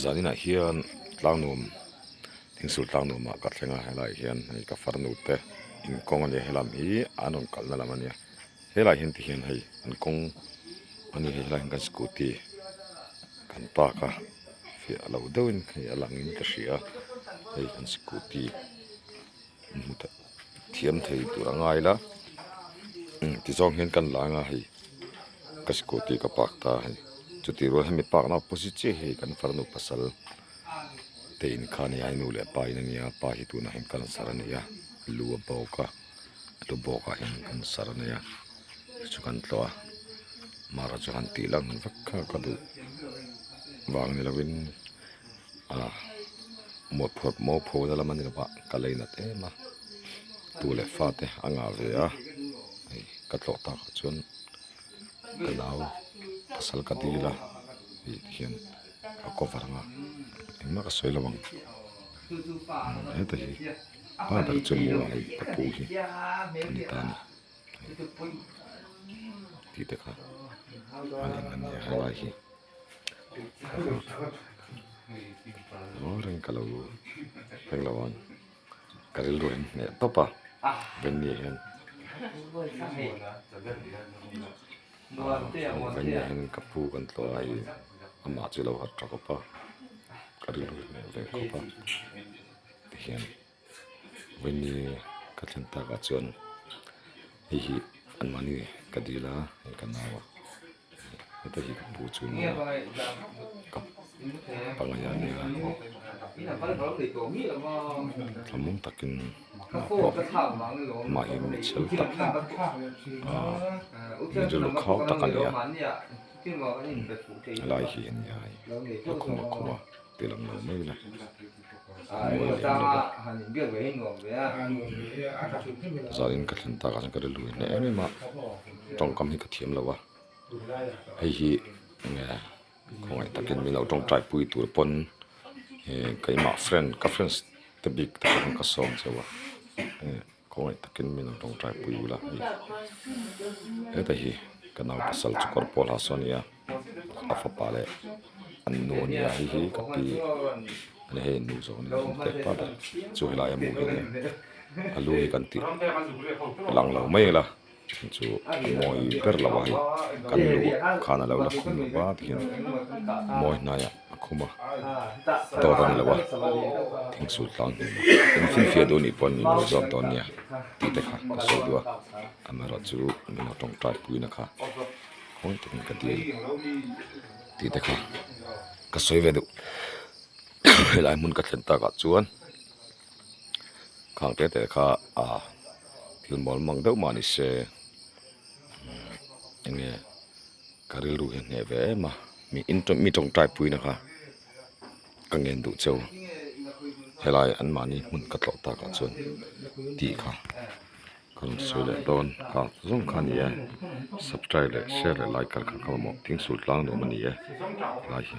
zan inah hian tlang nuam thing sur tlang nuam ah ka thleng a helai hian hei ka far nu te in kawng a ni a he lam hi an rawn kalh na lam a ni a helai hian ti hian hei an kawng a ni hei helai hian kan scooty kan park a fiah loh deuh in hei a lang in ka hria hei kan scooty -- thiam thei tur a ngai la tizawng hian kan la anga hei ka scooty ka park ta a hei chuti rual hemi parkna opposite chiah hi kan farnu pasal te in kha a ni a ai nu leh pa in a ni a pa hi tunah hian ka la serh a ni a lu a bawk a a lu bawkah hian ka la serh a ni a hei chu kan tluah a mahra chu han tih lang vek kha ka duh vang ni loin. a mawtphawt maw phone lam a ni lovah ka lei nat em a, tu leh fa te a ngah ve a, hei ka tlawh takah chuan ka nau pasal ka dil a tih te hian a cover ang a, engmah ka sawi lo ang heta hi pa ber chu maw a hei ka pu hi a ni ta a ni tih te kha a ni a hela hi. Aw reng ka lo reng lo ang ka rilru in hneh tawp a venue ah hian venue ah hian ka pu kan tlu a hei amah chu i lo harh tha khawp a ka rilru i hneh ve khawp a tihian. Vawini ka thlen tak ah chuan hei hi an mahni ka dil a hei ka nau a heta hi ka pu chu ni a ka pangngai ah a ni a thlamun tak in ka hmu a amah hi mi chhel tak min rilru khau tak a ni a lai hi a ni a hei lukhum lukhum a tihlawm lo mai ila. zalin ka thlen takah chuan ka rilru inhna em em a tawngkam hi ka thiam lo a hei hi nge khawngaih takin min lo tawng tai pui tur pawn ehh keimah friend ka friends te bik takah hian ka sawm chho a. Khawngaih takin min rawngṭai pui ula hei heta hi ka nau pasal chu kawr pawl ha saw ania a fapa leh an nu ania hei hi ka pi a ni hei nu zawh ania a awm teh tawh a chu helai a hmuh hi a ni a a lu hi kan tih lang lo mai ila. Thil chu mawi ber lo a hei kan luh khan a lo la khum lo va ti hian mawi hnaiah a khum a dawr a ni lo a thing sul tlang hle mawh in fianfia duh anih pawh an inlo zawk dawn nia tih te kha ka sawi deuh a amaherawhchu chu nula tawngtai puina kha hawi takin ka ti a ni tih te kha ka sawi ve duh helai hmun ka thlen takah chuan. khang teh teh kha a thil mawlh mang deuh mah ni se eng nge ka rilru hi a hneh ve em a mi in mi tawngtai puina kha ka ngen duh cheu helai an mahni hmun ka tlawh takah chuan tih kha ka rawn sawi leh dawn kha zawng kha ni e subscribe leh share leh like kar kha ka mamawh tling sultlang nuam a ni e helai hi.